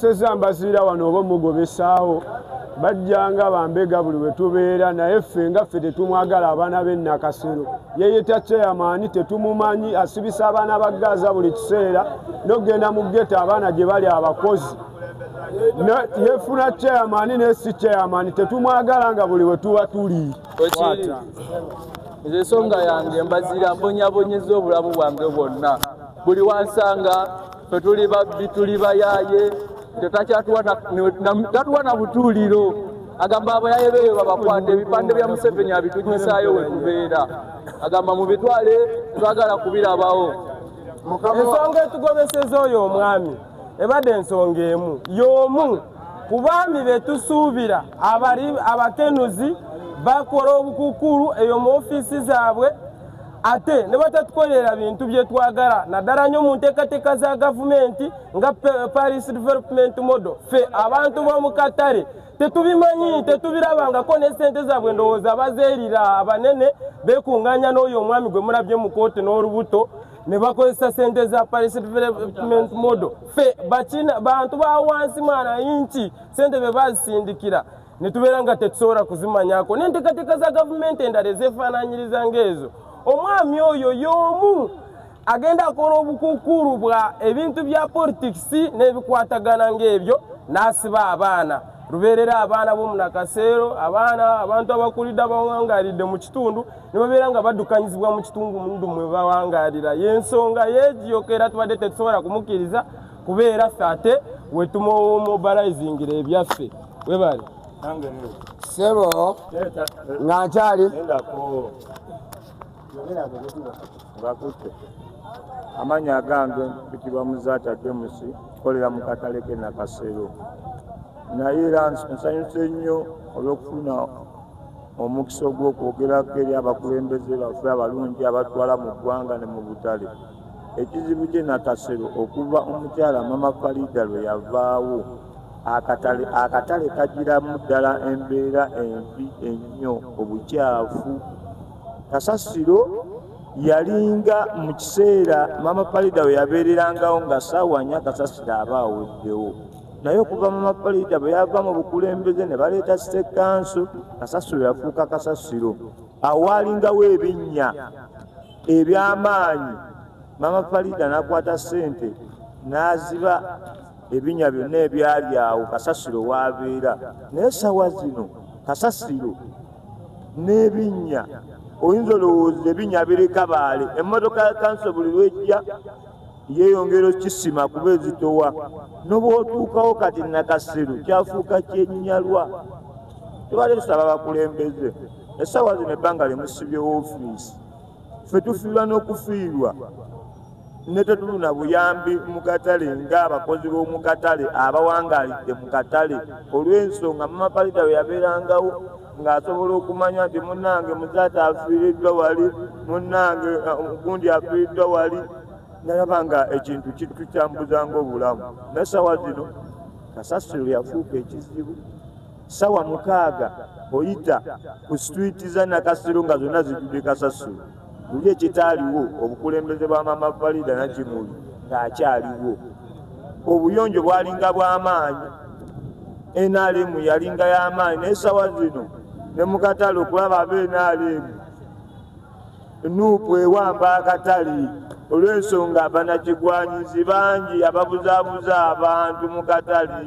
seza mbaziira wano oba omugobesaawo bajjanga bambega buli bwe tubeera naye ffe nga ffe tetumwagala abaana be nakasero yeyeta kyeyamaani tetumumanyi asibisa abaana ba gaaza buli kiseera nokugenda mu geta abaana gye bali abakozi yefuna kyeyamaani naye si kyeyamaani tetumwagala nga buli bwe tuba tuli nze ensonga yange mbaziira mbonyabonyeza obulamu bwange bwonna buli wansanga fe tuli babbi tuli bayaye tatuwa na butuuliro agamba abayaye beeyo babakwata ebipande bya museveni abitunyisaayo wekubeera agamba mubitwale twagala kubirabawo ensonga etugobeseza oyo omwami ebadde ensonga emu yomu ku baami betusuubira abakenuzi bakola obukukulu eyo mu ofiisi zaabwe ate ne batatukolera bintu bye twagala naddala nnyo mu nteekateeka za gavumenti nga paris development model ffe abantu b'omu katale tetubimanyi tetubirabangako ne sente zaabwe ndowooza bazeerira abanene beekunganya n'oyo omwami gwe mulabye mu kooti n'olubuto ne bakozesa sente za paris development model ffe bantu ba wansi mwana yinki sente be bazisindikira ne tubeera nga tetusobola kuzimanyako n'enteekateeka za gavumenti endala ezeefaananyiriza ng'ezo omwami oyo y'omu agenda akola obukukuulu bwa ebintu bya politikisi n'ebikwatagana ng'ebyo n'asiba abaana lubeerera abaana bomunakaseero abaana abantu abakulidde abawangalidde mu kitundu nibabeera nga baddukanyizibwa mu kitundu mundu mwe bawangalira y'ensonga yeegiyokera tubadde tetusobola kumukkiriza kubeera ffe ate wetumowomobilizingira ebyaffe webale sebo nga nkyali amanya agange bitibwa muzaata jemusi kolera mu katale ke nakasero naye era nsanyuse nnyo olw'okufuna omukisa ogw'okwogerako eri abakulembeze baffe abalungi abatwala mu ggwanga ne mu butale Ekizibu kye Nakasero okuva omukyala Mama Fariida lwe yavaawo akatale akatale kagiramu ddala embeera embi ennyo obukyafu. Kasasiro yalinga mu kiseera Mama Fariida we yabeererangawo nga ssaawa nnya Kasasiro aba aweddewo. naye okuva mu mapalita bwe yava mu bukulembeze ne baleeta sitekanso kasasiro yafuuka kasasiro awaalingawo ebinnya ebyamaanyi mama farida nakwata sente naziba ebinya byonna ebyali awo kasasiro wabeera naye sawa zino kasasiro n'ebinnya oyinza olowooza ebinya bireka baale emmotoka ya kanso buli lwejja yeyongera okisima kuba ezitowa nobwotuukawo kati nakasiru kyafuuka kyenyalwa tubale tusaba bakulembeze esawa zino ebbanga limusibye wofiisi ffe tufiirwa n'okufiirwa ne tetuluna buyambi mu katale ng'abakozi b'omu katale abawangaalidde mu katale olw'ensonga mamaparita bwe yabeerangawo ng'asobola okumanya nti munnange muzaata afiiriddwa wali munnange uh, gundi afiiriddwa wali nalaba nga ekintu kitukyambuzanga obulamu naye sawa zino kasasiro yafuuka ekizibu Sawa mukaaga oyita ku street za Nakasero nga zonna zijjudde kasasiro. Luli ekitaaliwo obukulembeze bwa Maama Farida Nakimuli ng'akyaliwo. Obuyonjo bwalinga bw'amaanyi. NRM yalinga y'amaanyi naye sawa zino ne mu katale okulaba aba NRM nuupu ewamba akatale olw'ensonga banakigwanyizi bangi ababuzaabuza abantu mu katale.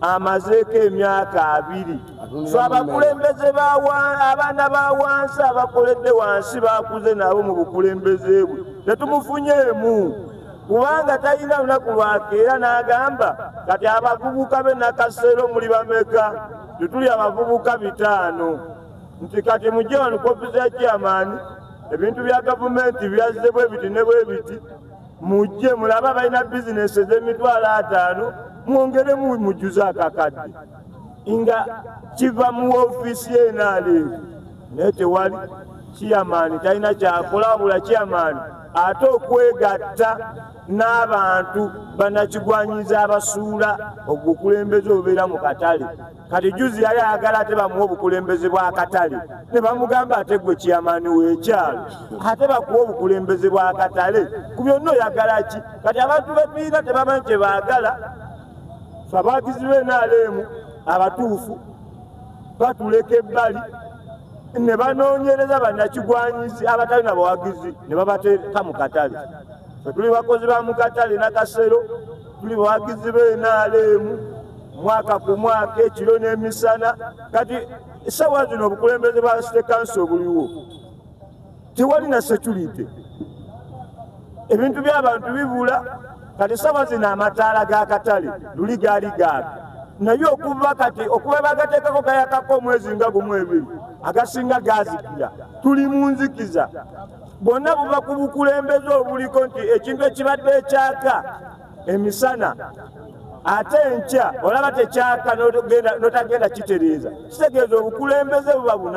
amazeeko emyaka abiri so abakulembeze abaana ba wansi abakoledde wansi bakuze nabo mu bukulembeze bwe tetumufunyeemu kubanga talina lunaku lwakeera n'agamba kati abavubuka be nakaseero muli bameka tetuli abavubuka bitaano nti kati mujje wano kopi za chairman ebintu bya gavumenti byazze bwe biti ne bwe biti mujje mulabe abalina bizinesi ez'emitwalo ataano mwongere mujjuze akakadde nga kiva mu ofiisi yenaaleevu naye tewali kiyamaani talina kyakola wabula kiyamaani ate okwegatta n'abantu banakigwanyiza abasuula ogukulembeze obeera mu katale kati juzi yali ayagala ate bamuwa obukulembeze bwakatale ne bamugamba ate gwe kyamaani wekyalo ate bakuwa obukulembeze bwakatale ku byonna oyagala ki kati abantu bepiira tebamanyi kye baagala abagizi benaleemu abatuufu batuleka ebbali ne banoonyereza bannakigwanyizi abatali na bawagizi ne babateeka mu katale fetuli bakozi ba mu katale nakasero tuli bawagizi be nrm mwaka ku mwaka ekiro n'emisana kati esawa zino obukulembeze bwa site kansi obuliwo tewali na security ebintu by'abantu bibula kati esawa zino amataala g'akatale luli gaali gaaga naye okuva kati okuba bagateekako gayakako omwezi nga gumu ebiri agasinga gazikira tuli mu nzikiza bwonna buva ku bukulembeze obuliko nti ekintu ekibadde ekyaka emisana ate enkya olaba tekyaka notagenda kitereeza kitegeeza obukulembeze buba bunaku